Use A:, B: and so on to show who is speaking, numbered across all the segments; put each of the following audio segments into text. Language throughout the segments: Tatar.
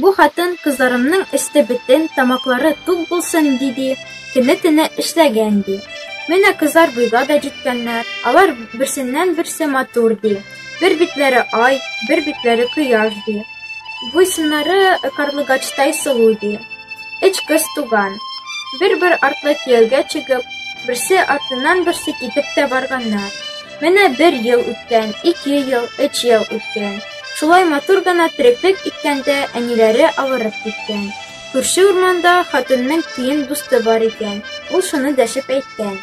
A: Бу хатын кызларымның өсте бөтен, тамаклары тук булсын, диди, көне-төне эшләгән, ди. Менә кызлар буйга да җиткәннәр, алар берсеннән-берсе матур, ди. Бер битләре ай, бер битләре кояш, ди. Буйсыннары карлыгачтай сылу, ди. Өч кыз туган. Бер-бер артлы кияүгә чыгып, берсе артыннан берсе китеп тә барганнар. Менә бер ел үткән, ике ел, өч ел үткән. Шулай матур гына тереклек иткәндә әниләре авырып киткән. Күрше урманда хатынның тиен дусты бар икән. Ул шуны дәшеп әйткән.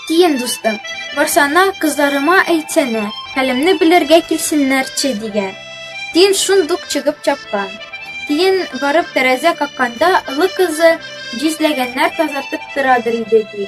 A: Тиен дустым, барсана кызларыма әйтсәнә, хәлемне белергә килсеннәрче дигән. Тиен шундук чыгып чапкан. Тиен барып тәрәзә какканда, олы кызы җизләгәннәр тазартып торадыр иде ди.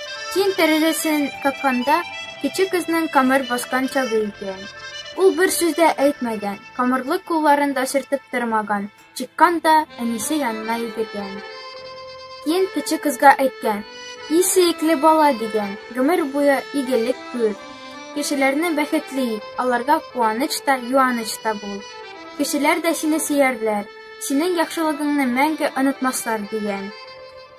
A: Тиен тәрәзәсен какканда, кече кызның камыр баскан чагы икән. Ул бер сүз дә әйтмәгән, камырлы кулларын да сөртеп тормаган, чыккан да әнисе янына йөгергән. Тиен кече кызга әйткән, «И сөекле бала» дигән, гомер буе игелек күр. Кешеләрне бәхетле ит, аларга куаныч та, юаныч та бул. Кешеләр дә сине сөярләр, синең яхшылыгыңны мәңге онытмаслар, дигән.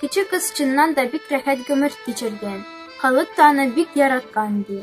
A: Кече кыз чыннан да бик рәхәт гомер кичергән, халык та аны бик яраткан, ди.